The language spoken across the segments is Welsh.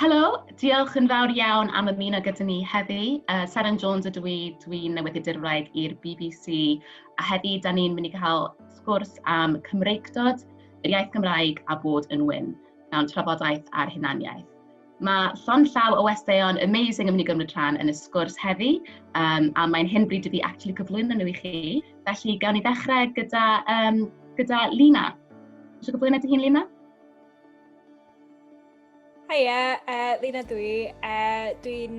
Helo, diolch yn fawr iawn am ymuno gyda ni heddi. Uh, Seren Jones ydw i, dwi'n newyddiadur Cymraeg i'r BBC, a heddi da ni'n mynd i cael sgwrs am Cymreictod, yr iaith Gymraeg a bod yn wyn, mewn trafodaeth ar hunaniaeth. Mae llond llaw o westeion amazing yn mynd i gymryd rhan yn y sgwrs heddi, um, a mae'n hyn bryd i fi actually cyflwyno nhw i chi. Felly, gawn ni ddechrau gyda, um, gyda Lina. Eisiau cyflwyno dy hun, Lina? Haia, uh, Lina dwi. Uh, dwi'n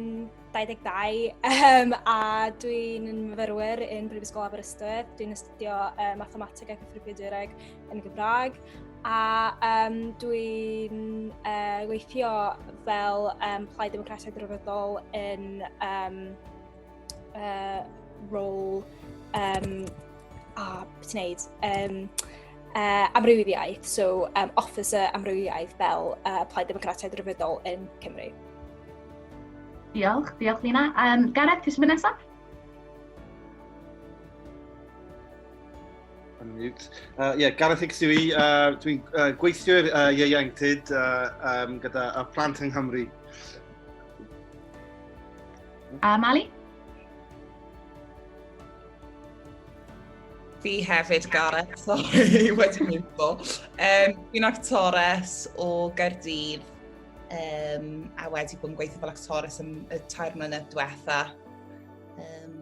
22 um, a dwi'n myfyrwyr yn Brifysgol Aberystwyth. Dwi'n astudio uh, mathemateg ac ethrybiadureg yn y Gymraeg. a yym dwi'n yy weithio fel yym Plaid Democratiaid Rhyfeddol yn yym uh, rôl um, a beth ti'n neud? Um, uh, amrywiaeth, so um, officer amrywiaeth fel uh, Plaid Democratiaid Rhyfeddol yn Cymru. Diolch, diolch Lina. Um, Gareth, ti'n mynd nesaf? Unmute. Uh, yeah, Gareth Hicks yw i. Uh, Dwi'n uh, gweithio i'r uh, ieuenctid uh, um, gyda y plant yng Nghymru. Uh, Mali? Fi hefyd, Gareth, sorry, wedi mwynfo. Um, Fi'n actores o Gaerdydd um, a wedi bod yn gweithio fel actores am y tair mlynedd diwetha. Um,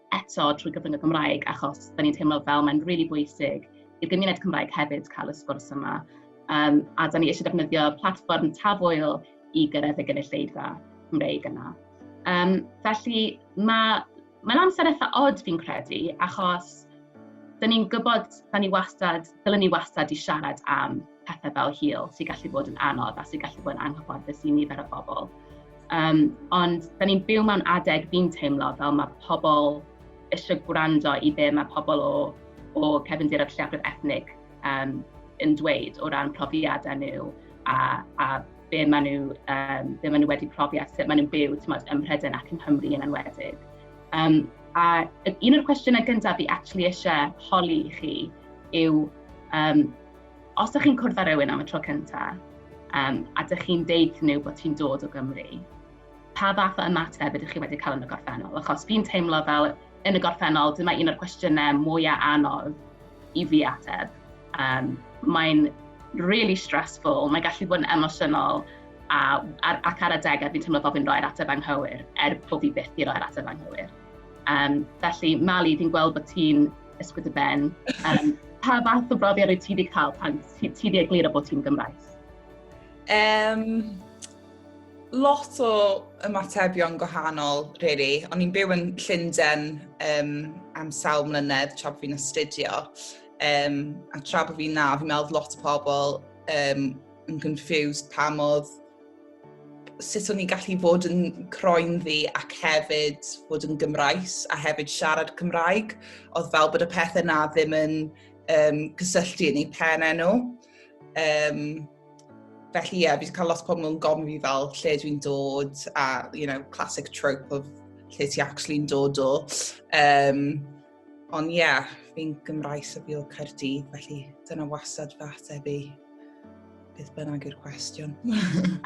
eto trwy gyfrwng y Gymraeg achos da ni'n teimlo fel mae'n rili really bwysig i'r gymuned Cymraeg hefyd cael y sgwrs yma. Um, a da ni eisiau defnyddio platfform tafwyl i gyrraedd y gynulleidfa Cymreig yna. Um, felly mae Mae'n amser eitha odd fi'n credu, achos dyn ni'n gwybod, da ni wastad, dylen ni wastad i siarad am pethau fel hil sy'n gallu bod yn anodd a sy'n gallu bod yn anghyfforddus i nifer o bobl. Um, ond da ni'n byw mewn adeg fi'n teimlo fel mae pobl eisiau gwrando i be mae pobl o, o cefndir a lleiafrif ethnig um, yn dweud o ran profiadau nhw a, a be maen nhw, um, be maen nhw wedi profi a sut maen nhw'n byw tymod, ym Mhrydain ac yn Nghymru yn enwedig. Um, a un o'r cwestiynau gyntaf fi actually eisiau holi i chi yw um, Os ydych chi'n cwrdd â rhywun am y tro cyntaf um, a ydych chi'n deud wrthyn nhw bod ti'n dod o Gymru, pa fath o ymateb ydych chi wedi cael yn y gorffennol? Achos fi'n teimlo fel yn y gorffennol, dyma un o'r cwestiynau mwyaf anodd i fi ateb. Um, mae'n really stressful, mae'n gallu bod yn emosiynol, a, ar, ac ar adegau fi'n teimlo bod fi'n rhoi'r ateb anghywir, er bod fi byth i roi'r ateb anghywir. Um, felly, Mali, fi'n gweld bod ti'n ysgwyd y ben. Um, pa fath o brofiad wyt ti wedi cael pan ti wedi egluro bod ti'n Gymraes? Um, lot o ymatebion gwahanol, really. O'n i'n byw yn Llundain um, am sawl mlynedd tra bod fi'n astudio. Um, a tra bod fi'n na, fi'n meddwl lot o pobl um, yn confused pam oedd sut o'n i'n gallu bod yn croen ddi ac hefyd bod yn Gymraes a hefyd siarad Cymraeg. Oedd fel bod y pethau na ddim yn um, cysylltu yn ei pen enw. Um, felly ie, yeah, fi wedi cael lot pobl yn gofyn fi fel lle dwi'n dod a, you know, classic trope of lle ti actually'n dod o. Um, Ond ie, yeah, fi'n Gymraes y Bîl Caerdydd, felly dyna wasad fy ateb i beth bynnag i'r cwestiwn.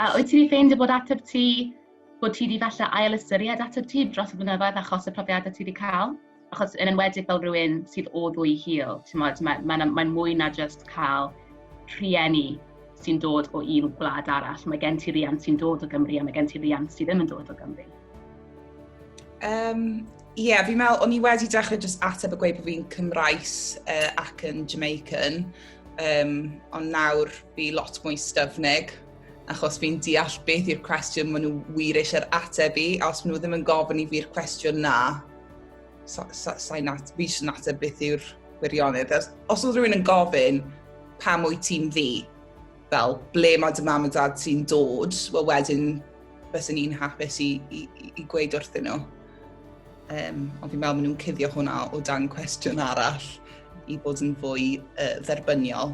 a wyt ti wedi ffeindio bod ateb ti, bod ti wedi falle ail ystyried ateb ti dros y blynyddoedd achos y profiadau ti wedi cael? Achos yn enwedig fel rhywun sydd o ddwy hil, ti'n modd, mae'n mae, mae, mae mwy na just cael rhieni sy'n dod o un gwlad arall. Mae gen ti riant sy'n dod o Gymru a mae gen ti riant sydd ddim yn dod o Gymru. Um, Ie, yeah, fi'n meddwl, o'n i wedi dechrau jyst ateb y gweud bod fi'n Cymraes uh, ac yn Jamaican, um, ond nawr fi lot mwy styfnig, achos fi'n deall beth i'r cwestiwn maen nhw wir eisiau'r ateb i, a os maen nhw ddim yn gofyn i fi'r cwestiwn na, sa, sa, sa nat, fi eisiau ateb beth yw'r gwirionedd. Os oedd rhywun yn gofyn, pam wyt ti'n fi? fel ble mae dy mam a dad ti'n dod, wel wedyn bys yn un hapus i, i, i gweud wrthyn nhw. Um, ond fi'n meddwl maen nhw'n cuddio hwnna o dan cwestiwn arall i bod yn fwy uh, dderbyniol.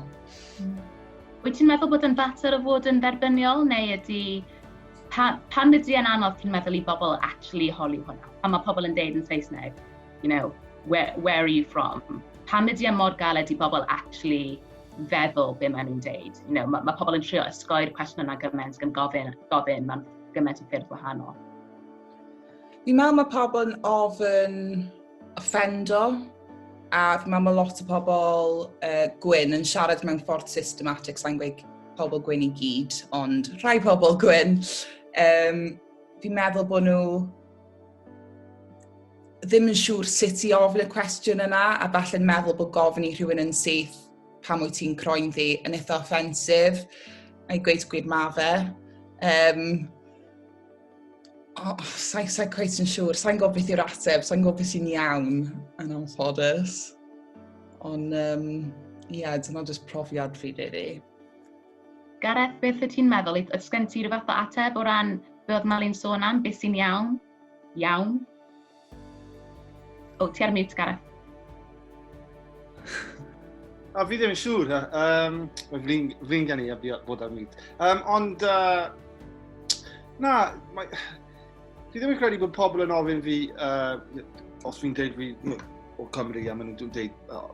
Mm. Wyt ti'n meddwl bod yn fater o fod yn dderbyniol neu ydy... Pa, pan ydy yn anodd ti'n meddwl i bobl actually holi hwnna? Pan mae pobl yn deud yn Saesneg, you know, where, where are you from? Pan ydy yn mor galed i bobl actually feddwl be maen nhw'n deud. You know, mae, mae pobl yn trio ysgoi'r cwestiwn yna gymaint gan gofyn, gofyn mae'n gymaint o ffyrdd wahanol. Fi'n meddwl mae pobl yn ofyn offendo, a fi'n meddwl mae lot o pobl uh, gwyn yn siarad mewn ffordd systematic, sa'n gweud pobl gwyn i gyd, ond rhai pobl gwyn. Um, fi'n meddwl bod nhw ddim yn siŵr sut i ofyn y cwestiwn yna a falle'n meddwl bod gofyn i rhywun yn syth pam wyt ti'n croen ddi yn eitha offensif. Mae'n gweud gwir ma fe. Um, oh, sa'n sa cweith yn siŵr, sa'n gwybod beth yw'r ateb, sa'n gwybod beth sy'n iawn yn anffodus. Ond, um, ie, yeah, dyna jyst profiad fi, really. Gareth, beth wyt ti'n meddwl? Oes gen ti ryw fath o ateb o ran be oedd Mali'n sôn am, beth sy'n iawn? Iawn? O, ti ar mute, Gareth. A fi ddim yn siŵr, um, flin, flin gen i a bod ar mute. Um, ond, uh, na, mae, fi ddim yn credu bod pobl yn ofyn fi, uh, os fi'n dweud fi o Cymru a maen nhw'n dweud, oh,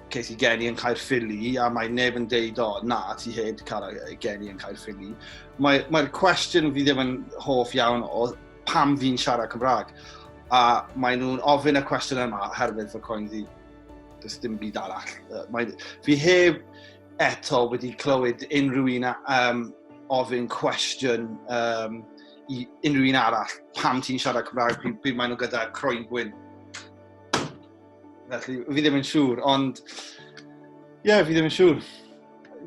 ces i geni yn Caerffili a mae neb yn deud, o, na, ti hed cael geni yn Caerffili. Mae'r mae cwestiwn fi ddim yn hoff iawn o pam fi'n siarad Cymraeg. A mae nhw'n ofyn y cwestiwn yma herwydd fy coen ddi. Does dim byd arall. Mae, fi heb eto wedi clywed unrhyw un um, ofyn cwestiwn um, i unrhyw un arall pam ti'n siarad Cymraeg pryd, pryd maen nhw gyda croen gwyn. Felly, fi ddim yn siŵr, ond... Ie, yeah, fi ddim yn siŵr.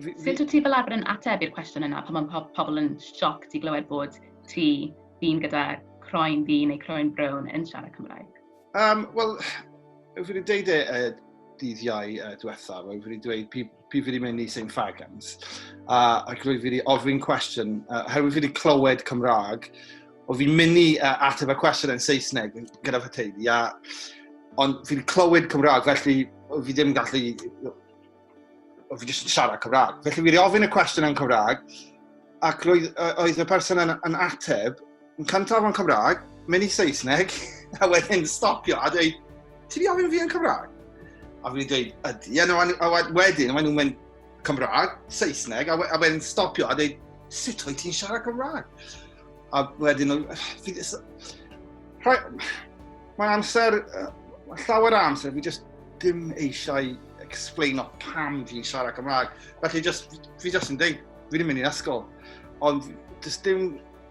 Sut wyt ti fel arfer yn ateb i'r cwestiwn yna pan mae pobl yn sioc ti glywed bod ti dyn gyda croen ddi neu croen brown yn siarad Cymraeg? Um, Wel, fi wedi dweud e uh, dydd iau uh, diwethaf, fi wedi dweud pryd fi wedi mynd i St Fagans, a, ac roedd fi wedi ofyn cwestiwn, uh, herwydd fi wedi clywed Cymraeg, o fi'n mynd i uh, ateb y cwestiwn yn Saesneg gyda fy teulu, a, ond fi wedi clywed Cymraeg, felly fi ddim gallu, o fi jyst yn siarad Cymraeg. Felly fi wedi ofyn y cwestiwn yn Cymraeg, ac roedd, oedd y person yn, yn ateb, yn cyntaf yn Cymraeg, mynd i Saesneg, a wedyn stopio a dweud, ti di ofyn fi yn Cymraeg? A fi'n dweud, ydy, a, no, a wedyn, maen nhw'n mynd Cymraeg, Saesneg, a, a wedyn stopio a dweud, sut o'i ti'n siarad Cymraeg? A wedyn, mae'n amser, llawer amser, fi just dim eisiau explain o pam fi'n siarad Cymraeg. Felly, just, fi just yn dweud, fi ddim mynd i'n ysgol. Ond, just dim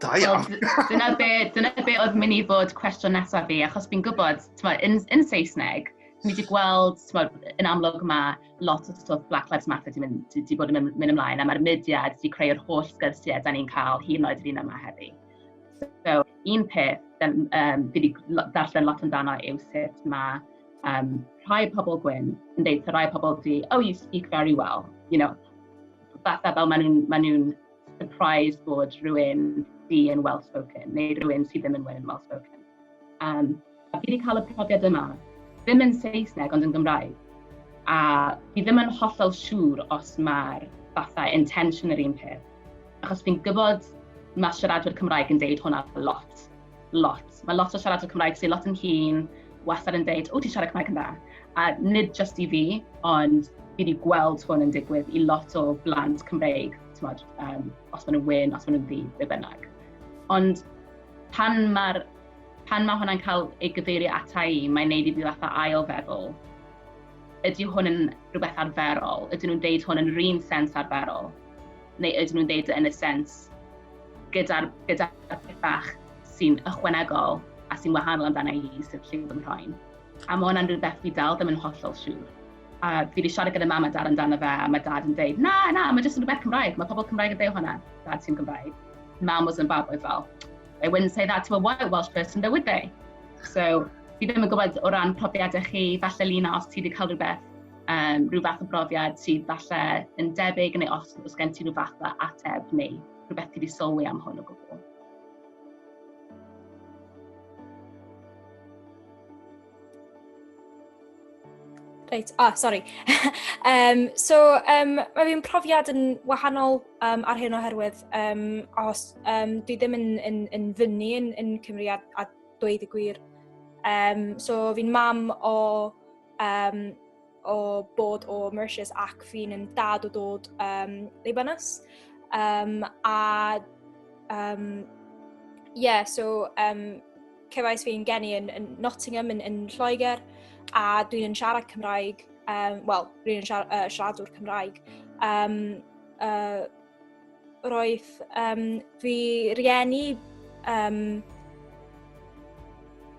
Da iawn. dyna be, dyna be oedd mynd i fod cwestiwn nesaf fi, achos fi'n gwybod, yn, yn Saesneg, ni wedi gweld, tmod, yn amlwg mae lot o stwff Black Lives Matter wedi mynd, di, di bod yn mynd ymlaen, a mae'r mudiad wedi creu'r holl sgyrsiau da ni'n cael hyn oed yr un yma heddi. So, un peth, um, fi wedi darllen lot amdano yw sut mae um, rhai pobl gwyn yn dweud, rhai pobl di, oh, you speak very well, you know, fatha fel maen nhw'n ma nhw surprised bod rhywun di yn well spoken, neu rhywun sydd ddim yn well well spoken. Um, a fi wedi cael y profiad yma, ddim yn Saesneg ond yn Gymraeg. A fi ddim yn hollol siŵr os mae'r fatha intention yr un peth. Achos fi'n gwybod mae siaradwyr Cymraeg yn deud hwnna lot. lot. Mae lot o siaradwyr Cymraeg sy'n lot yn hun, wastad yn dweud, o, ti'n siarad Cymraeg yn dda. A nid just i fi, ond fi wedi gweld hwn yn digwydd i lot o blant Cymreig, mod, um, os maen nhw'n wyn, os maen nhw'n ddi, be bynnag. Ond pan mae'r pan mae hwnna'n cael ei gyfeirio ata i, mae'n neud i fi fatha ail feddwl. Ydy hwn yn rhywbeth arferol? Ydyn nhw'n deud hwn yn rhywun sens arferol? neu ydyn nhw'n deud yn y sens gyda'r gyda pethau sy'n ychwanegol a sy'n wahanol amdana i sydd lle fy mhroen. A mae hwnna'n rhywbeth fi dal ddim yn hollol siŵr. A fi wedi siarad gyda mam a dad amdano fe, a mae dad yn dweud, na, na, mae jyst yn rhywbeth Cymraeg, mae pobl Cymraeg yn dweud hwnna, dad sy'n Gymraeg. Mam was yn fab oedd fel, they wouldn't say that to a white Welsh person, though would they? So, fi ddim yn gwybod o ran profiadau chi, falle Lina, os ti wedi cael rhywbeth um, rhyw fath o brofiad sydd falle yn debyg neu os, os gen ti rhyw fath o ateb neu rhywbeth ti wedi sylwi am hwn o gwbl. Reit, ah, sori. um, so, um, mae fi'n profiad yn wahanol um, ar hyn oherwydd um, os um, dwi ddim yn, yn, yn fyny yn, yn Cymru a, a dweud y gwir. Um, so, fi'n mam o um, o bod o Mauritius ac fi'n yn dad o dod um, Libanus. Um, a, um, yeah, so um, cefais fi'n geni yn, yn Nottingham, yn, yn Lloegr, a dwi'n yn siarad Cymraeg, um, wel, dwi'n yn siar, uh, siaradwr Cymraeg. Um, uh, Roedd um, fy rieni um,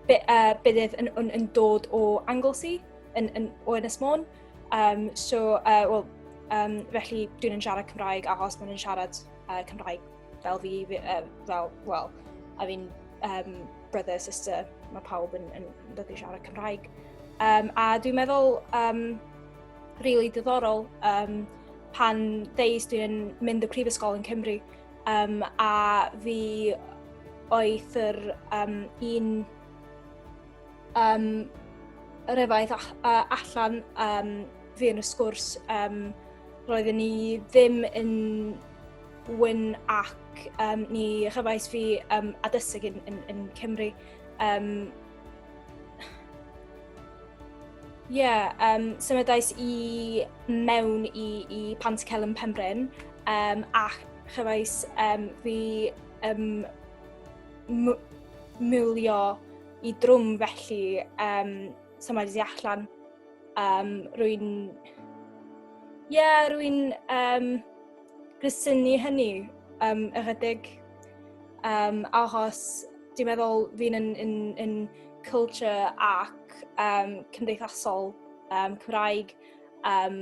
be, uh, byddedd yn, yn, yn dod o Anglesey, yn, yn, o Ynys Môn. Um, so, uh, well, um, felly dwi'n yn siarad Cymraeg achos maen nhw'n siarad uh, Cymraeg fel fi, uh, fel, well, I mean, um, brother, sister, mae pawb yn, yn, yn dod i siarad Cymraeg. Um, a dwi'n meddwl, um, Rili diddorol um, pan ddeis dwi'n mynd y prifysgol yn Cymru um, a fi oedd yr um, un um, yr efaith allan um, fi yn y sgwrs um, roedden ni ddim yn wyn ac um, ni chyfais fi um, addysg yn, yn, yn Cymru um, Ie, yeah, um, symudais i mewn i, i Pant Celyn Pembryn um, ac chyfais um, fi um, mwlio i drwm felly um, symudais i allan. Um, rwy'n... Ie, yeah, rwy'n um, grysynu hynny um, ychydig. Um, achos dwi'n meddwl fi'n yn, yn, yn culture ac um, cymdeithasol um, Cymraeg um,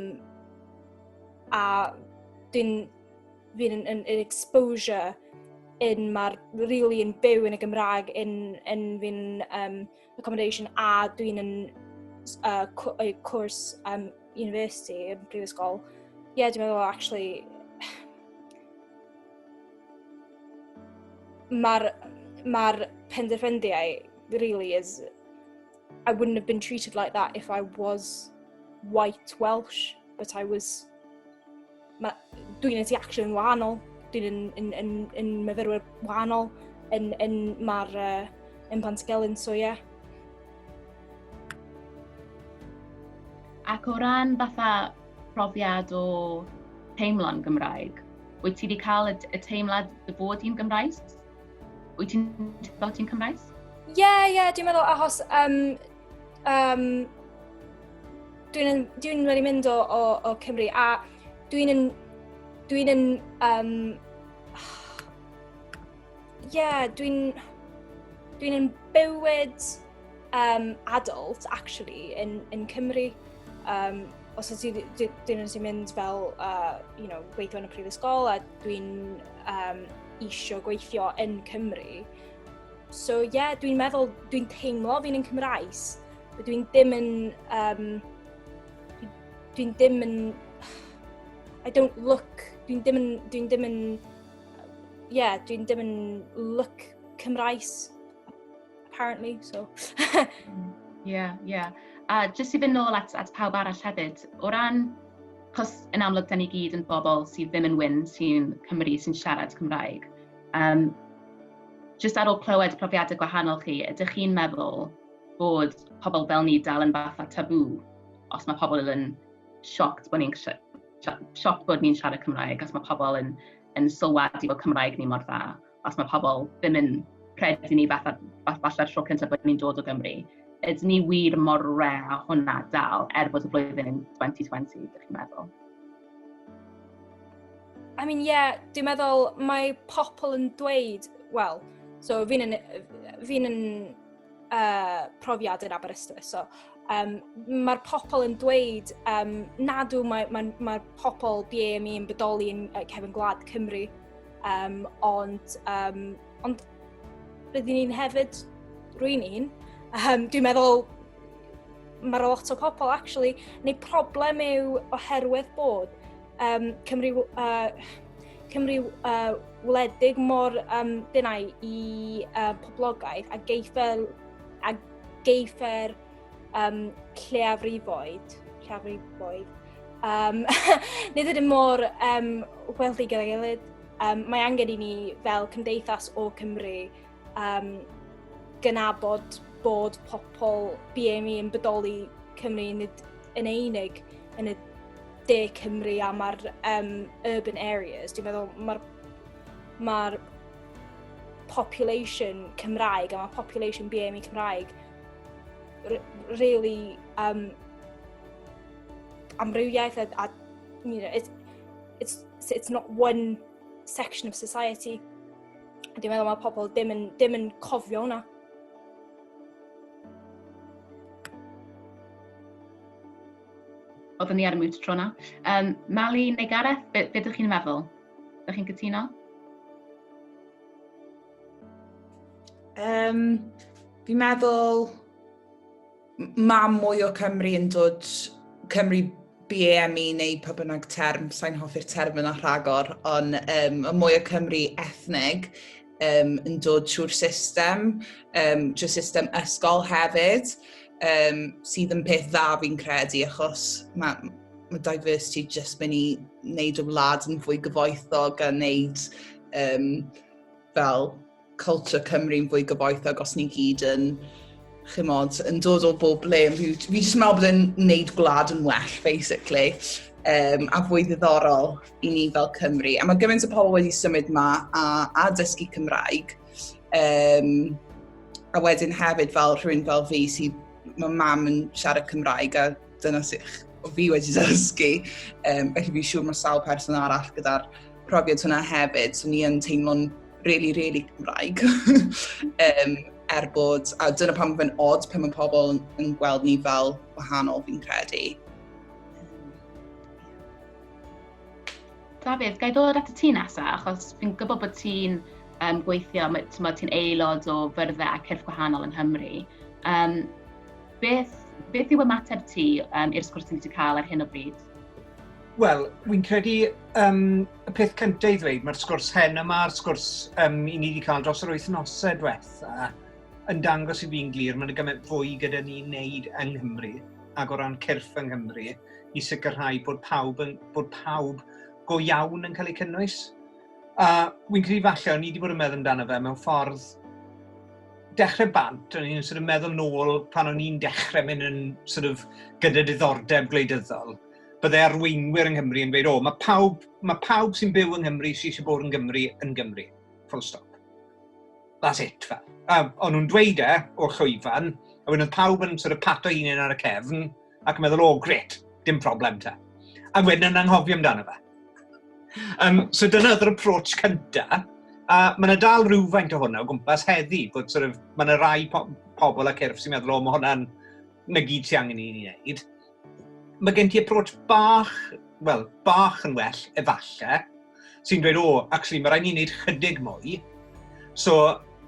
a dwi'n fi'n yn, yn, yn exposure yn mae'r really yn byw yn y Gymraeg yn, yn fi'n um, accommodation a dwi'n yn uh, cwrs um, university yn prifysgol, ie, yeah, dwi'n meddwl, actually, mae'r ma penderfyniadau really is I wouldn't have been treated like that if I was white Welsh, but I was dwi'n yn tu action yn wahanol, dwi'n yn, yn, yn, yn myfyrwyr wahanol, yn, yn mae'r uh, yn Pantycelyn, so ie. Yeah. Ac o ran fatha profiad o teimlo'n Gymraeg, wyt ti wedi cael y, y teimlad dy bod i'n Gymraes? Wyt ti'n teimlo ti'n Cymraes? Ie, yeah, ie, yeah, dwi'n meddwl achos um, Um, dwi'n dwi wedi mynd o, o, o Cymru a dwi'n yn... Dwi'n yn... Um, yeah, dwi'n... Dwi'n yn bywyd um, adult, actually, yn, yn Cymru. Um, os ydy dyn nhw'n mynd fel, uh, you know, gweithio yn y prifysgol a dwi'n um, eisiau gweithio yn Cymru, So ie, yeah, dwi'n meddwl, dwi'n teimlo fi'n yn Cymraes. Dwi'n dim yn... Um, dwi'n dim yn... I don't look... Dwi'n dim yn... Dwi'n dim yn... Ie, yeah, dwi'n dim yn look Cymraes, apparently, so... Ie, yeah, ie. Yeah. A jyst i fynd nôl at, at pawb arall hefyd, o ran... Cos yn amlwg, da ni gyd yn bobl sydd ddim yn wyn sy'n Cymru, sy'n siarad Cymraeg. Um, just ar ôl clywed profiadau gwahanol chi, ydych chi'n meddwl bod pobl fel ni dal yn fath a tabw os mae pobl yn sioct bod ni'n sioct bod ni'n siarad Cymraeg, os mae pobl yn, yn sylwadu bod Cymraeg ni mor dda, os mae pobl ddim yn credu ni fath fatha'r tro cyntaf bod ni'n dod o Gymru. Ydyn ni wir mor re a hwnna dal, er bod y flwyddyn yn 2020, ydych chi'n meddwl? I mean, yeah, dwi'n meddwl mae pobl yn dweud, wel, so fi'n yn, fi yn uh, profiad yn Aberystwyth, so um, mae'r pobl yn dweud um, nad yw mae, mae, mae pobl BAME yn bodoli yn uh, cefn gwlad Cymru, um, ond, um, ond Rydyn ni'n hefyd, rwy'n un, um, dwi'n meddwl mae lot o pobl, actually, neu problem yw oherwydd bod um, Cymru, uh, Cymru uh, wledig mor um, denau i uh, poblogaeth a geifer, a geifer um, lleiafrifoedd, lleiafrifoedd, um, nid ydym mor um, weldig gyda'i gilydd. Um, mae angen i ni fel cymdeithas o Cymru um, gynabod bod pobl BME yn bodoli Cymru nid yn einig yn y de Cymru a mae'r um, urban areas. Dwi'n meddwl mae'r ma population Cymraeg a mae population BME Cymraeg really um, amrywiaeth a, a you know, it's, it's, it's not one section of society. A dwi'n meddwl mae pobl dim yn, dim yn cofio hwnna. Oedden ni ar y mwt tro na. Um, Mali neu Gareth, beth be ydych chi'n meddwl? Ydych chi'n cytuno? Um, fi'n meddwl mae mwy o Cymru yn dod Cymru BAME neu pa bynnag term, sa'n hoffi'r term yna rhagor, ond um, y mwy o Cymru ethnig um, yn dod trwy'r system, um, trwy system ysgol hefyd, um, sydd yn peth dda fi'n credu, achos mae ma diversity jyst mynd i wneud y wlad yn fwy gyfoethog a wneud um, fel culture Cymru'n fwy gyfoethog os ni'n gyd yn, chymod, yn dod o bob le. Fi jyst yn meddwl bod e'n neud gwlad yn well, basically, um, a fwy ddiddorol i ni fel Cymru. A mae gymaint o pobl wedi symud yma a, a dysgu Cymraeg. Um, a wedyn hefyd fel rhywun fel fi sydd, mae mam yn siarad Cymraeg a Dyna sych o fi wedi dysgu. Um, felly fi'n siŵr mae sawl person arall gyda'r profiad hwnna hefyd. So ni yn teimlo'n really, really Cymraeg. um, er bod, a dyna pan mae'n odd pan mae pobl yn gweld ni fel wahanol fi'n credu. Dafydd, gai ddod at y ti nesaf, achos fi'n gwybod bod ti'n um, gweithio, ti'n aelod o fyrddau a cyrff gwahanol yng Nghymru. Um, Beth, beth yw ymateb ti um, i'r sgwrs ti wedi cael ar hyn o bryd? Wel, wy'n credu um, y peth cyntaf i ddweud, mae'r sgwrs hen yma, a'r sgwrs um, i ni wedi cael dros yr wythnosau diwetha, yn dangos i fi'n glir, mae'n gymaint fwy gyda ni wneud yng Nghymru ac o ran cyrff yng Nghymru i sicrhau bod pawb, yn, bod pawb go iawn yn cael eu cynnwys. A wy'n credu falle, o'n i wedi bod yn meddwl amdano fe mewn ffordd dechrau bant, o'n i'n sort of meddwl nôl pan o'n i'n dechrau mynd yn sort of gyda diddordeb gwleidyddol, bydde arweinwyr yng Nghymru yn gweud, o, mae pawb, mae pawb sy'n byw yng Nghymru sy'n eisiau bod yn Gymru yn Gymru. Full stop. That's it, fel. Um, o'n nhw'n dweud e o'r llwyfan, a wedyn oedd pawb yn sort of pato un ar y cefn, ac yn meddwl, o, oh, gret, dim problem ta. Ac wedyn yn anghofio amdano fe. Um, so dyna oedd yr approach cyntaf, a mae yna dal rhywfaint o hwnna o gwmpas heddi, bod sort of, mae yna rai po pobl ac erf sy'n meddwl, o, mae hwnna'n na gyd sy'n angen i ni wneud. Mae gen ti approach bach, wel, bach yn well, efallai, sy'n dweud, o, actually, mae rhaid ni wneud chydig mwy. So,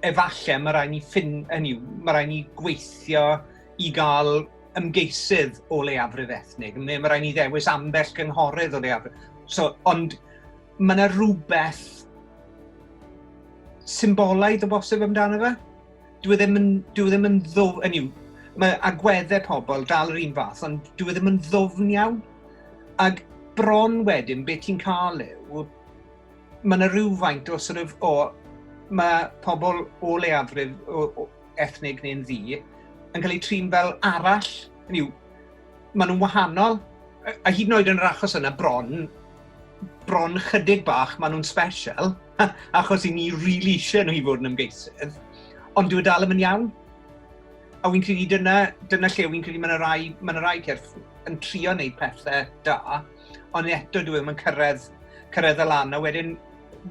efallai mae rhaid ni ffyn, hynny, mae rhaid ni gweithio i gael ymgeisydd o leiafrif ethnig, neu mae rhaid ni ddewis ambell gynghorydd o leiafrif. So, ond mae yna rhywbeth symbolaidd o bosib amdano fe. Dwi e ddim yn, dwi e ddim yn ddwf, yn yw, mae agweddau pobl dal yr un fath, ond dwi e ddim yn ddwfn iawn. Ac bron wedyn, beth ti'n cael yw, mae yna rhywfaint o sort of, o, mae pobl o leiafrif o, o ethnig neu'n ddi yn cael eu trin fel arall, yn yw, Maen nhw'n wahanol, a hyd yn oed yn yr achos yna bron, bron chydig bach maen nhw'n special, achos i ni rili eisiau nhw i fod yn ymgeisydd, ond dyw e dal ddim yn iawn. A wy'n credu dyna, dyna lle wy'n credu mae yna rai, mae yna rai cerdd yn trio wneud pethau da, ond eto dwi e ddim yn cyrraedd, cyrraedd y lan. A wedyn,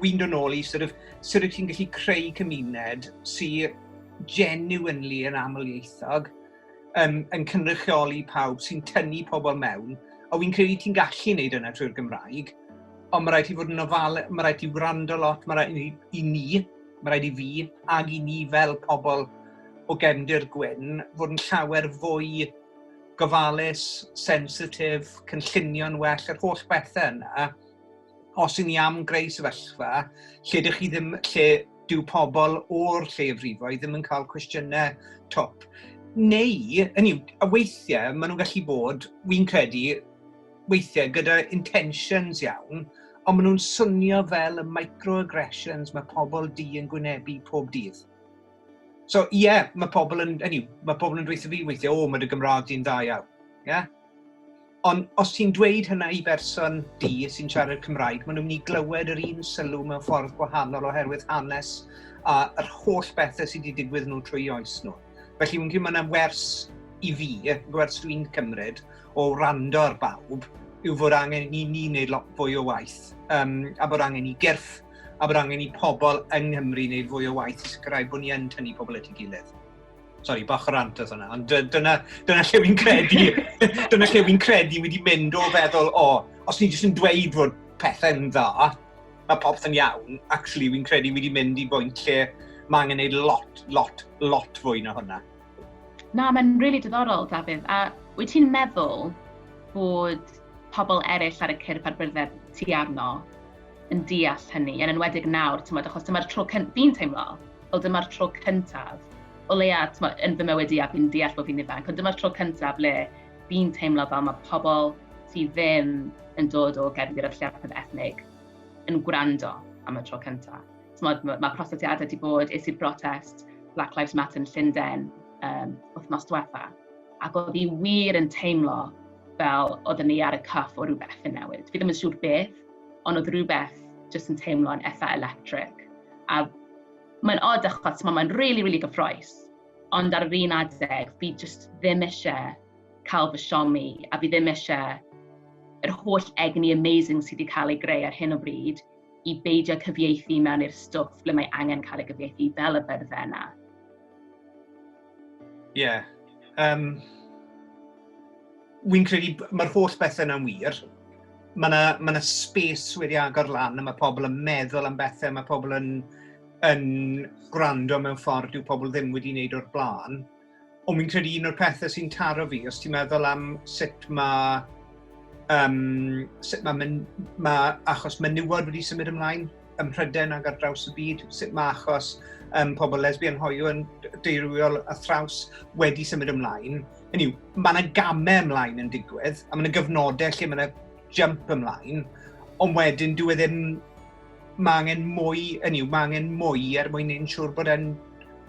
wy'n dod nôl i sort of, sut wyt ti'n gallu creu cymuned sy'n genuinely yn amlieithog, yn, yn cynrychioli pawb sy'n tynnu pobl mewn, a wy'n credu ti'n gallu wneud yna trwy'r Gymraeg, ond mae rhaid i fod yn ofal, mae rhaid i wrando lot, mae rhaid i, i ni, mae rhaid i fi, ag i ni fel pobl o gefndir gwyn, fod yn llawer fwy gofalus, sensitif, cynllunio'n well, yr holl bethau yna, os y'n ni am greu sefyllfa lle dych chi ddim, lle dyw pobl o'r lleiafrifoedd ddim yn cael cwestiynau top. Neu, hynny yw, a weithiau maen nhw'n gallu bod, wy'n credu, weithiau gyda intentions iawn, ond maen nhw'n swnio fel y microaggressions mae pobl di yn gwynebu pob dydd. So, ie, yeah, mae pobl yn, hynny yw, mae pobl yn dweud fi weithiau, o, mae dy Gymraeg di'n dda iawn. Yeah? Ond os ti'n dweud hynna i berson du sy'n siarad Cymraeg, maen nhw'n mynd i glywed yr un sylw mewn ffordd gwahanol oherwydd hanes a yr holl bethau sydd wedi digwydd nhw trwy oes nhw. Felly fi'n credu mae yna wers i fi, gwers dwi'n cymryd o wrando ar bawb, yw fod angen i ni wneud lot fwy o waith, um, a bod angen i gyrff, a bod angen i pobl yng Nghymru wneud fwy o waith i sicrhau bod ni yn tynnu pobl at ei gilydd. Sorry, bach o rant oedd hwnna, ond dyna, dyna lle fi'n credu, dyna lle fi'n credu wedi mynd o feddwl, o, oh, os ni jyst yn dweud fod pethau'n dda, mae popeth yn iawn, actually fi'n credu wedi mynd i bwynt lle mae angen gwneud lot, lot, lot fwy na hwnna. Na, mae'n rili really diddorol, Dafydd. A wyt ti'n meddwl bod pobl eraill ar y cyrff a'r byrddau ti arno yn deall hynny, yn enwedig nawr, ti'n meddwl, achos dyma'r tro cyntaf, fi'n teimlo, o dyma'r tro cyntaf, o leia, t'mo, yn fy mywyd i a fi'n deall bod fi'n ifanc, ond dyma'r tro cyntaf le fi'n teimlo fel mae pobl sydd ddim yn dod o gefn gyda'r lleiafrif ethnig yn gwrando am y tro cyntaf. T'mo, mae ma prosetiadau wedi bod, es i'r brotest Black Lives Matter yn Llundain um, wythnos diwetha, ac oedd hi wir yn teimlo fel oedden ni ar y cyff o rhywbeth yn newid. Fi ddim yn siŵr beth, ond oedd rhywbeth jyst yn teimlo'n eitha electric. A mae'n odd achos mae mae'n really, really gyffroes. Ond ar yr un adeg, fi just ddim eisiau cael fy siomi a fi ddim eisiau yr holl egni amazing sydd wedi cael ei greu ar hyn o bryd i beidio cyfieithu mewn i'r stwff ble mae angen cael ei gyfieithu fel y byrddau yna. Ie. Yeah. Um, Wy'n credu mae'r holl bethau yna'n wir. Mae yna ma, na, space wedi agor lan a mae pobl yn meddwl am bethau, mae pobl yn, yn gwrando mewn ffordd yw pobl ddim wedi wneud o'r blaen. Ond wy'n credu un o'r pethau sy'n taro fi, os ti'n meddwl am sut mae, um, sut mae, men, mae achos menywod wedi symud ymlaen, ym Mhrydain ac ar draws y byd, sut mae achos um, pobl lesbian hoiw yn deiriol a thraws wedi symud ymlaen. Hynny yw, mae yna gamau ymlaen yn digwydd, a mae yna gyfnodau lle mae yna jump ymlaen, ond wedyn dwi e ddim... Mae angen mwy, yn yw, mae angen mwy er mwyn ein siŵr bod e'n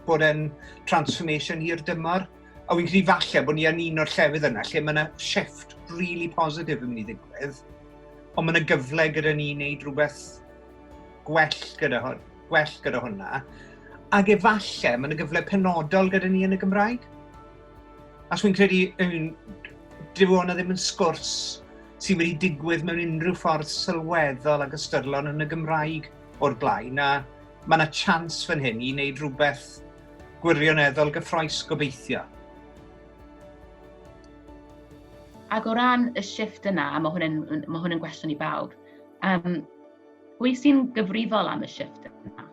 bod e'n transformation hir dymor. A wy'n credu falle bod ni yn un o'r llefydd yna lle mae yna shift really positive yn mynd i ddigwydd. Ond mae yna gyfle gyda ni wneud rhywbeth gwell gyda, hwn, gwell gyda hwnna. Ac efallai, mae yna gyfle penodol gyda ni yn y Gymraeg. Ac fi'n credu, yn, dyw hwnna ddim yn sgwrs sy'n wedi digwydd mewn unrhyw ffordd sylweddol ag ystyrlon yn y Gymraeg o'r blaen, a mae yna chans fan hyn i wneud rhywbeth gwirioneddol gyffroes gobeithio. Ac o ran y shift yna, a mae hwn yn, mae hwn yn gwestiwn i bawb, um, pwy sy'n gyfrifol am y shift yna?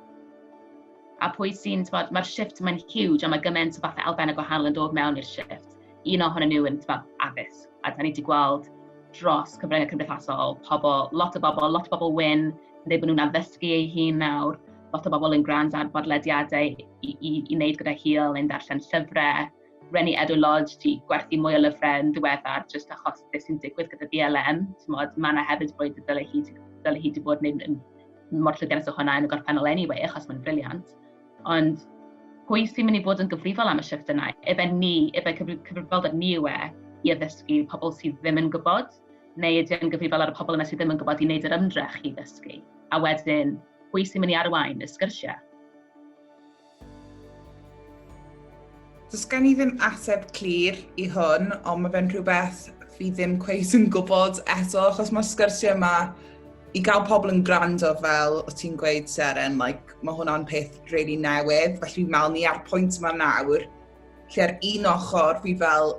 A pwy sy'n, tywod, mae'r shift mae'n huge, a mae gymaint o fathau elfen y gwahanol yn dod mewn i'r shift. Un ohonyn nhw yn, tywod, addysg. A da ni wedi gweld dros cyfryngau cymdeithasol, pobl, lot o bobl, lot o bobl wyn, yn dweud bod nhw'n addysgu ei hun nawr, lot o bobl yn gwrando ar bodlediadau i, i, i wneud gyda hil neu'n darllen llyfrau, Reni Edo Lodge 'di gwerthu mwy o lyfrau yn ddiweddar jyst achos beth sy'n digwydd gyda BLM. Mae yna hefyd y bwyd y dylai hi, dylai hi wedi bod yn, yn mor llwyddiannus o hwnna yn y gorffennol anyway, achos mae'n briliant. Ond pwy sy'n mynd i fod yn gyfrifol am y shift yna? Efe ni, efe cyfrifoldeb ni yw e i addysgu pobl sydd ddim yn gwybod, neu ydy e'n gyfrifol ar y pobl yna sydd ddim yn gwybod i wneud yr ymdrech i ddysgu? A wedyn, pwy sy'n mynd i arwain y sgyrsiau? Does gen i ddim ateb clir i hwn, ond mae fe'n rhywbeth fi ddim cweith yn gwybod eto, achos mae'r sgyrsiau yma i gael pobl yn gwrando fel o ti'n gweud Seren, like, mae hwnna'n peth really newydd, felly fi'n meddwl ni ar pwynt yma nawr, lle ar un ochr fi fel,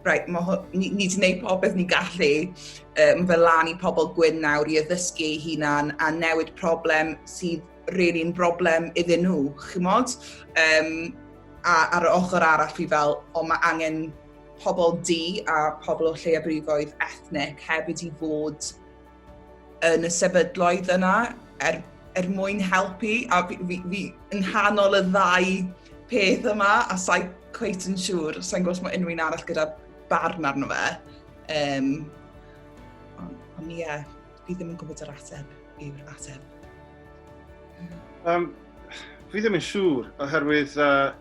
right, mae, ni, ni wedi gwneud popeth ni'n gallu, um, mae fel lan i pobl gwyn nawr i addysgu ei hunan a newid problem sydd rili yn broblem iddyn nhw, chymod? Um, a ar y ochr arall fi fel, o mae angen pobl di a pobl o lleiafrifoedd ethnic hefyd i fod yn y sefydloedd yna er, er mwyn helpu a fi, fi, fi yn hanol y ddau peth yma a sa'i cweit yn siŵr, sa'n gwrs mae unrhyw un arall gyda barn arno fe. Um, ond ie, yeah, fi ddim yn gwybod yr ateb yw'r ateb. Um, fi ddim yn siŵr, oherwydd uh,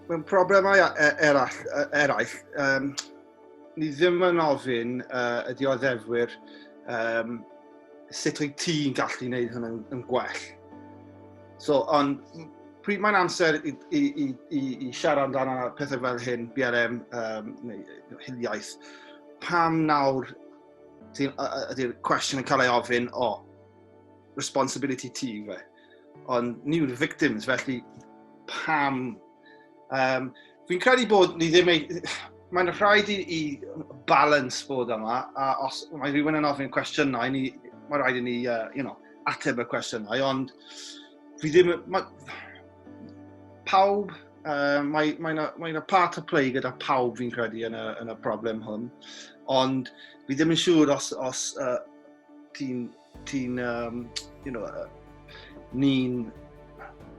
mewn problemau e, eraill, e, eraill um, ni ddim yn ofyn uh, y dioddefwyr um, sut wyt ti'n gallu gwneud hyn yn, yn gwell. So, ond pryd mae'n amser i, i, i, i, i siarad amdano pethau fel hyn, BRM um, neu hiliaeth, pam nawr Ydy'r cwestiwn yn cael ei ofyn, o, oh, responsibility ti fe. Ond ni yw'r victims, felly pam? Um, fi'n credu bod ni ddim ei... Mae'n rhaid i, i balance bod yma, a os mae rhywun yn ofyn cwestiynau, ni, mae'n rhaid i ni, uh, you know, ateb y cwestiynau, ond fi ddim... Ma, pawb Uh, mae mae yna mae part of play gyda pawb fi'n credu yn y, yn y problem hwn. Ond fi ddim yn siŵr os, os uh, ti'n, ti um, you know, uh, ni'n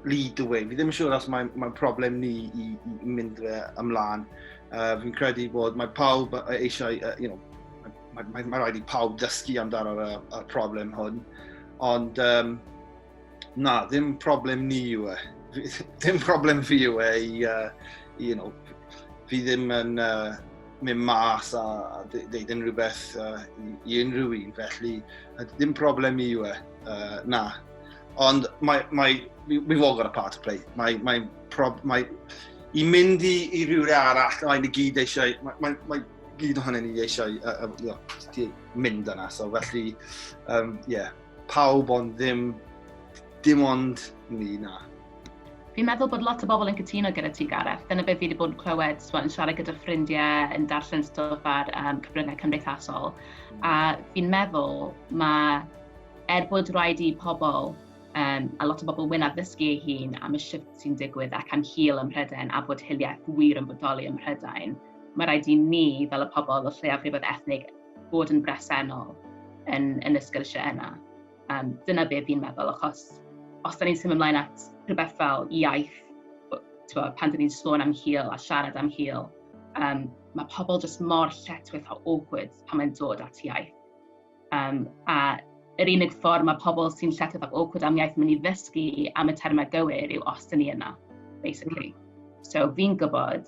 lead the way. Fi ddim yn siŵr os mae'n mae problem ni i, i mynd fe ymlaen. Uh, fi'n credu bod mae pawb eisiau, uh, you know, mae, mae, mae rhaid i pawb dysgu amdano'r y, y problem hwn. Ond um, Na, ddim problem ni yw e. Ddim problem fi yw e i, uh, you know, fi ddim yn uh, mynd mas a, a ddeud unrhyw beth uh, i, i unrhyw un, felly ddim problem i yw e, uh, na. Ond mae, mae, we've all got a part to play. Mae, mae, prob, mae, i mynd i, i rhywle arall, mae'n i gyd eisiau, mae, mae, mae gyd ohono ni eisiau uh, uh, you know, mynd yna, so felly, um, yeah, Pawb ond ddim, dim ond ni, na. Fi'n meddwl bod lot o bobl yn cytuno gyda ti, Gareth. Dyna beth fi wedi bod yn clywed, so, yn siarad gyda ffrindiau, yn darllen stwff ar um, cyfryngau cymdeithasol. A fi'n meddwl mae, er bod rhaid i pobl um, a lot o bobl wynaf ddysgu ei hun am y shift sy'n digwydd ac am hil ym Mhrydain a bod hiliaeth wir yn bodoli ym Mhrydain, mae rhaid i ni, fel y pobl o lleiafrifoedd ethnig, bod yn bresennol yn, yn y sgyrsiau yna. Um, dyna beth fi'n meddwl, achos os da ni'n symud ymlaen at rhywbeth fel iaith, twa, pan da ni'n sôn am hil a siarad am hil, um, mae pobl jyst mor lletwith o awkward pan mae'n dod at iaith. Um, a yr unig ffordd mae pobl sy'n lletwith ac awkward am iaith yn mynd i ddysgu am y termau gywir yw os da ni yna, basically. So fi'n gwybod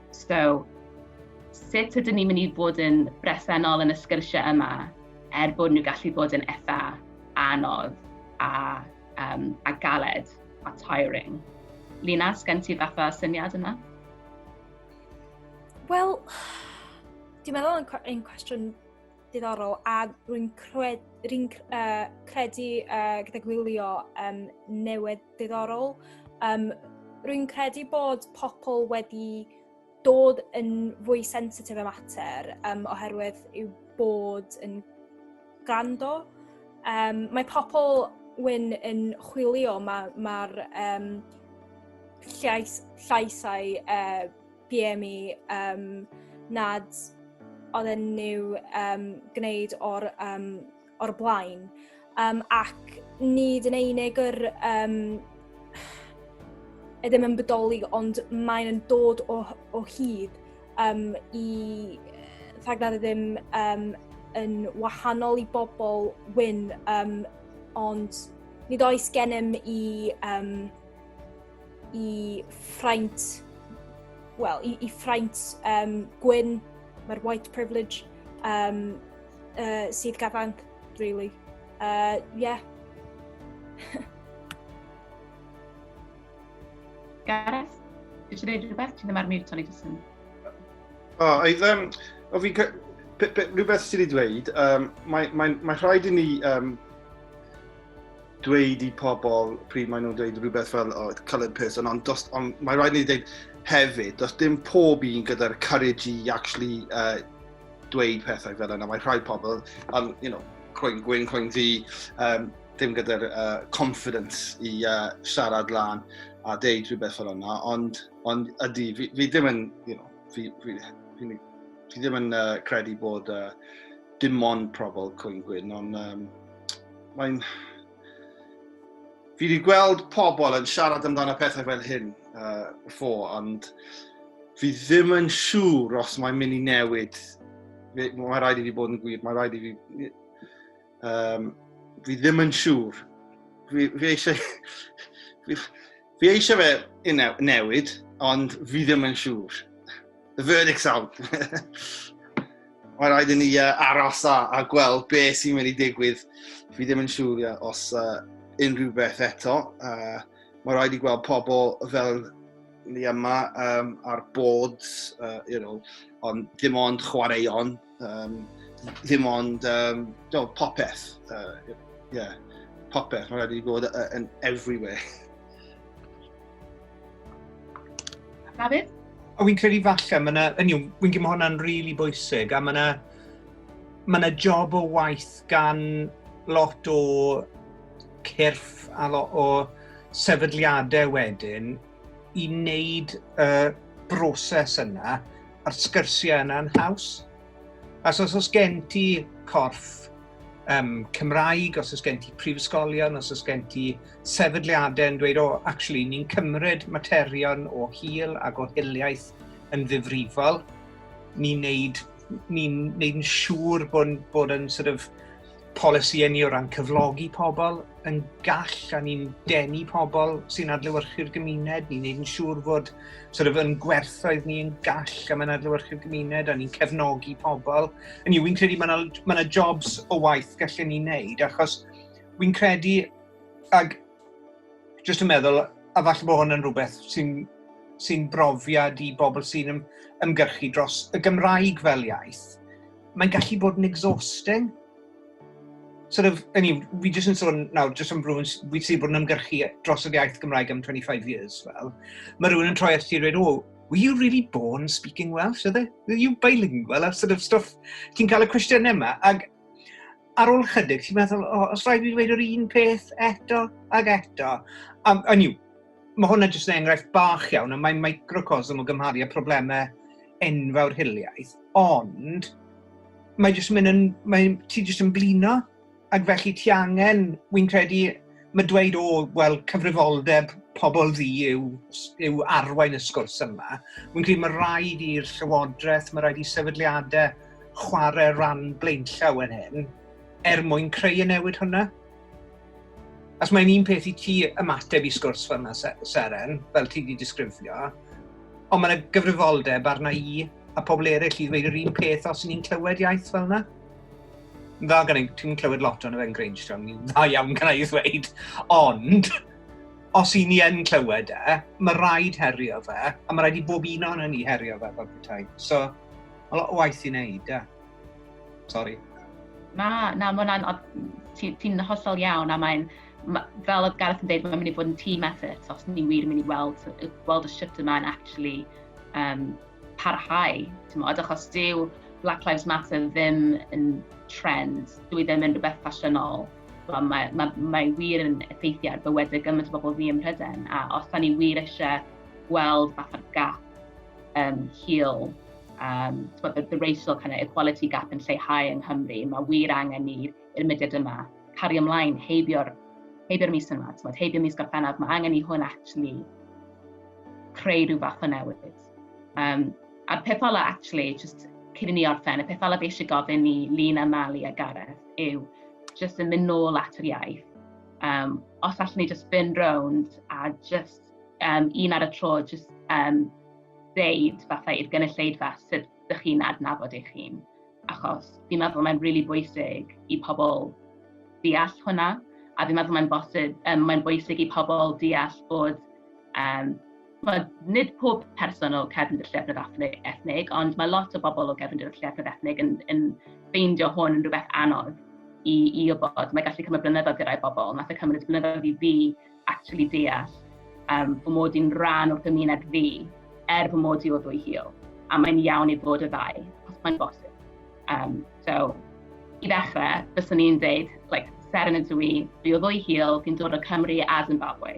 So, sut ydyn ni'n mynd i fod yn bresennol yn y sgyrsiau yma er bod nhw gallu bod yn eitha anodd a, um, a galed a tiring. Lina, sgen ti fatha syniad yna? Wel, dwi'n meddwl yn, yn cwestiwn Diddorol, a rwy'n cred, rwy'n uh, credu uh, gyda gwylio um, newid diddorol. Um, rwy'n credu bod pobl wedi dod yn fwy sensitif y mater um, oherwydd yw bod yn grando. Um, mae pobl wyn yn chwilio, mae'r ma, ma um, llais, llaisau uh, PM i um, nad oedd yn new um, gwneud o'r, um, or blaen. Um, ac nid yn einig yr um, edrych yn bodoli, ond mae'n yn dod o, o hyd um, i rhagnar ddim um, yn wahanol i bobl wyn, um, ond nid oes gennym i um, i ffraint, well, i, i ffraint um, gwyn, mae'r white privilege um, uh, sydd gafanc, really. Uh, yeah. Gareth, ti eisiau gwneud rhywbeth? Ti ddim ar mute, o'n i jyst yn... O, oh, oedd, um, o fi, rhywbeth sydd wedi dweud, um, mae, mae, mae rhaid i ni um, dweud i pobl pryd maen nhw'n dweud rhywbeth fel oh, coloured person, ond, dos, ond mae rhaid ni dweud hefyd, does dim pob un gyda'r courage i actually uh, dweud pethau fel yna. Mae rhai pobl, um, you know, croen gwyn, croen ddi, um, dim gyda'r uh, confidence i uh, siarad lan a deud rhywbeth fel yna, ond, ond ydy, fi, fi ddim yn, you know, fi, fi, fi, fi, fi ddim yn uh, credu bod uh, dim ond pobl cwyn gwyn, ond um, mae'n... Fi wedi gweld pobl yn siarad amdano pethau fel hyn uh, before, ond fi ddim yn siŵr os mae'n mynd i newid. Mae rhaid i fi bod yn gwir, mae rhaid i fi... Um, fi ddim yn siŵr. Fi, fi eisiau... fi, fi eisiau fe newid, ond fi ddim yn siŵr. The verdict's out. Mae rhaid i ni uh, aros a, a gweld be sy'n mynd i digwydd. Fi ddim yn siŵr yeah, os uh, unrhyw beth eto. Uh, mae rhaid i gweld pobl fel ni yma um, ar boards, uh, you know, ond dim ond chwaraeon Um, ddim ond um, do, popeth. Uh, yeah, popeth. Mae'n rhaid i fod yn everywhere. David? O, fi'n credu falle, mae yna, yn yw, fi'n credu mae hwnna'n rili really bwysig, a mae yna, mae yna job o waith gan lot o cyrff a lot o sefydliadau wedyn i wneud y broses yna a'r sgyrsiau yna'n haws. Os os oes gen ti corff um, Cymraeg, os oes gen ti prifysgolion, os oes gen ti sefydliadau yn dweud, o, oh, actually, ni'n cymryd materion o hil ac o hiliaeth yn ddifrifol, ni'n neud, ni neud yn siŵr bod, bod yn sort of, polisïau ni o ran cyflogi pobl, yn gall a ni'n denu pobl sy'n adlewyrchu'r gymuned, ni'n neud yn siŵr fod sort of, yn gwerthoedd ni yn gall a mae'n adlewyrchu'r gymuned a ni'n cefnogi pobl. Yn yw, fi'n credu mae yna ma ma jobs o waith gallen ni'n neud achos fi'n credu ag jyst yn meddwl a falle bod hwn yn rhywbeth sy'n sy brofiad i bobl sy'n ymgyrchu dros y Gymraeg fel iaith Mae'n gallu bod yn exhausting. Sort of, I mean, fi jyst yn sôn nawr, jyst am rhywun fi sydd wedi bod yn ymgyrchu dros yr iaith Gymraeg am 25 years, fel. Mae rhywun yn troi at ti a dweud, oh, were you really born speaking Welsh? Are, they, are you bilingual? A sort of stuff, ti'n cael y cwestiynau yma. Ac ar ôl chydig, ti'n meddwl, oh, os rhaid fi dweud yr un peth eto ac eto. Um, and you, Mae hwnna jyst yn enghraifft bach iawn, ond mae'n microcosm o gymharu â problemau enfawr hiliaeth, ond mae jyst yn mynd yn, mae, ti jyst yn blino, ac felly ti angen, wy'n credu, mae dweud, o, wel, cyfrifoldeb pobl ddi yw, yw arwain y sgwrs yma. Wy'n credu mae rhaid i'r llywodraeth, mae rhaid i sefydliadau chwarae rhan blaenllaw yn hyn, er mwyn creu y newid hwnna. Os mae'n un peth i ti ymateb i sgwrs fel yna, Seren, fel ti wedi disgrifio, ond mae'n y gyfrifoldeb arna i a pobl eraill i ddweud yr un peth os ni'n clywed iaith fel yna. Dda gan ei, ti'n clywed lot o'n efo'n Grange Town, ni'n dda iawn gan ei ddweud, ond os i ni yn clywed e, mae rhaid herio fe, a mae rhaid i bob un o'n ni herio fe fel petai. So, mae lot o waith i wneud, e. Sorry. Na, na, mae hwnna'n... Ti'n ti hollol iawn a mae'n... Fel oedd Gareth yn dweud, mae'n mynd i fod yn team effort os ni wir yn mynd i weld, weld y shwt yma'n actually um, parhau. Tymod, achos dyw Black Lives Matter ddim yn trend, dwi ddim yn rhywbeth ffasiynol. Mae, mae, mae, mae wir yn effeithio ar bywydau gymaint o bobl fi ym Mhryden, a os da ni wir eisiau gweld fatha'r gap um, heal um, the, the racial kind of equality gap yn lleihau yng Nghymru. Mae wir angen ni i'r mudiad yma cario ymlaen heibio'r heibio'r mis yma, tmod, heibio mis Gorffennaf, mae angen i hwn actually creu rhyw fath o newid. Um, a'r peth ola actually, just cyn i ni orffen, y peth ola fi eisiau gofyn i Lina, Mali a Gareth yw just yn mynd nôl at yr iaith. Um, os allwn ni just byn rownd a just um, un ar y tro, jyst um, ddeud fatha i'r gynulleidfa sut ydych chi'n adnabod eich hun. Achos fi'n meddwl mae'n rili really bwysig i pobl deall hwnna, a fi'n meddwl mae'n bosib, um, mae'n bwysig i pobl deall bod um, mae nid pob person o cefnod y llefryd ethnig, ond mae lot o bobl o cefnod y llefryd ethnig yn, yn ffeindio hwn yn rhywbeth anodd i, i wybod. Mae gallu cymryd blynyddoedd gyda'i bobl. Nath y cymryd blynyddoedd i fi actually deall um, fy mod i'n rhan o'r gymuned fi, er fy mod i o ddwy hil. A mae'n iawn i fod y ddau, os mae'n bosib. Um, so, i ddechrau, byswn i'n dweud, like, ser yn y dwi, fi o ddwy hil, fi'n dod o Cymru a Zimbabwe.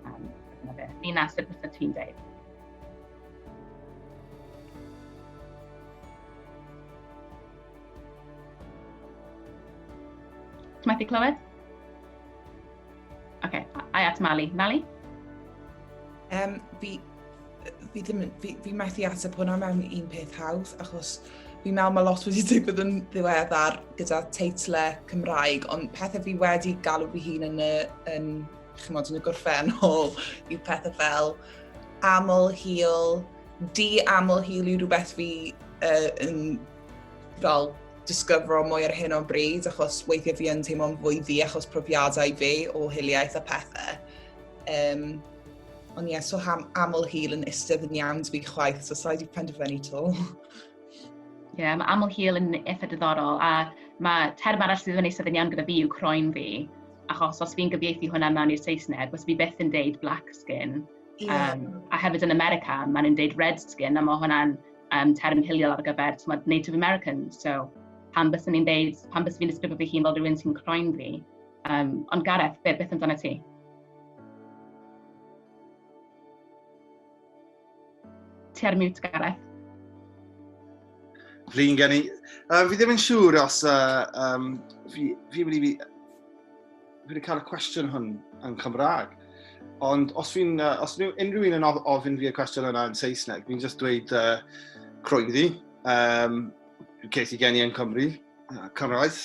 Um, dyna beth, ni'n nasib bysau ti'n dweud. Ti'n methu clywed? Oce, okay, ai at Mali. Mali? Um, fi, fi, ddim, fi, fi methu ateb hwnna mewn un peth hawdd, achos fi mewn mae lot wedi digwydd yn ddiweddar gyda teitle Cymraeg, ond pethau fi wedi galw fi hun yn y, yn, chymod, yn y gorffennol yw pethau fel aml hil, di aml hil yw rhywbeth fi uh, yn fel disgyfro mwy ar hyn o'n bryd, achos weithiau fi yn teimlo'n fwy ddi achos profiadau fi o hiliaeth a pethau. Um, ond ie, yeah, so ham, aml hil yn ystydd yn iawn dwi chwaith, so sa'i wedi penderfynu to. Ie, yeah, mae aml hil yn eitha diddorol, a mae term arall sydd yn eistedd yn iawn gyda fi yw croen fi, achos os fi'n gyfieithu hwnna mewn i'r Saesneg, os fi beth yn deud black skin, yeah. um, a hefyd yn America, maen nhw'n deud red skin, a mae hwnna'n um, term hiliol ar gyfer tmod, Native American. So, pan bys ni'n deud, pan bys fi'n disgrifio fy hun fel rhywun sy'n croen fi. Um, ond Gareth, beth, beth amdano ti? Ti ar mute, Gareth. Flin gen i. Uh, fi ddim yn siŵr os uh, um, fi, fi wedi Dwi wedi cael y cwestiwn hwn yn Cymraeg. Ond os fi'n, uh, os fi'n unrhyw un yn ofyn fi y cwestiwn yna yn Saesneg, fi'n just dweud uh, croeddi. Um, ces i geni yn Cymru, uh, cyrraedd,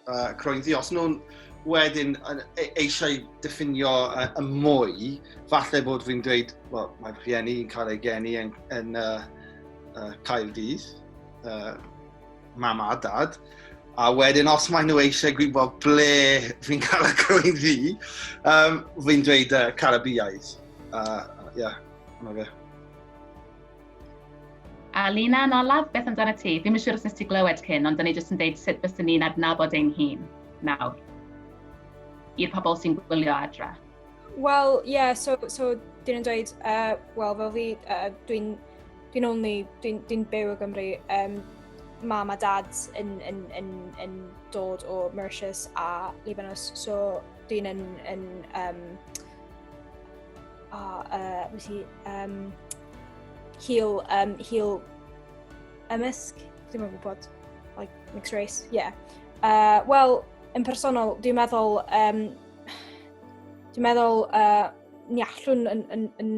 uh, croeddi. Os nhw'n wedyn e, eisiau diffinio uh, y mwy, falle bod fi'n dweud, well, mae fy rhieni yn cael ei geni yn, yn uh, uh, Cael Dydd. Uh, mam a dad, a wedyn os maen nhw eisiau gwybod ble fi'n cael y crwy'n ddi, um, fi'n dweud uh, Carabiaidd. Uh, yeah, yna fe. A Lina yn olaf, beth amdano ti? Fi'n mynd siŵr os nes ti glywed cyn, ond dyn ni jyst yn deud sut bys ni'n adnabod ein hun nawr i'r pobl sy'n gwylio adra. Wel, ie, yeah, so, so dyn nhw'n dweud, uh, wel, fel fi, uh, dwi'n Dwi'n only, dwi'n dwi byw o Gymru. Um, mam a dad yn, yn, yn, yn dod o Mauritius a Libanus, so dwi'n yn, yn um, oh, uh, was he, um, heel, um, heel ymysg, dwi'n meddwl bod, like, mixed race, yeah. Uh, Wel, yn personol, dwi'n meddwl, um, dwi'n meddwl uh, ni allwn yn, yn, yn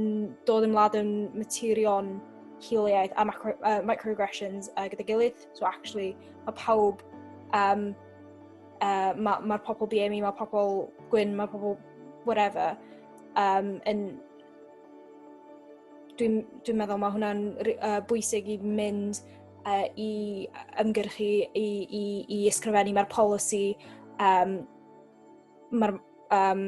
dod yn wlad yn materion hiliaeth a macro, uh, microaggressions uh, gyda gilydd. So actually, mae pawb, um, uh, mae'r ma, pobl BME, mae pobl gwyn, mae pobl whatever, um, yn dwi'n dwi meddwl mae hwnna'n uh, bwysig i mynd uh, i ymgyrchu, i, i, i ysgrifennu, mae'r polisi, um, mae'r um,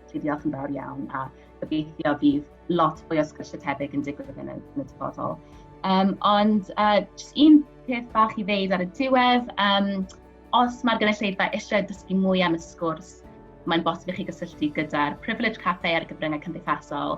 Felly diolch yn fawr iawn a gobeithio bydd lot fwy o sgwrsio tebyg yn digwydd yn y, yn y dyfodol. Um, ond uh, just un peth bach i ddeud ar y diwedd, um, os mae'r gynulleidfa eisiau dysgu mwy am y sgwrs, mae'n bosib i chi gysylltu gyda'r Privilege Cafe ar gyfryngau cymdeithasol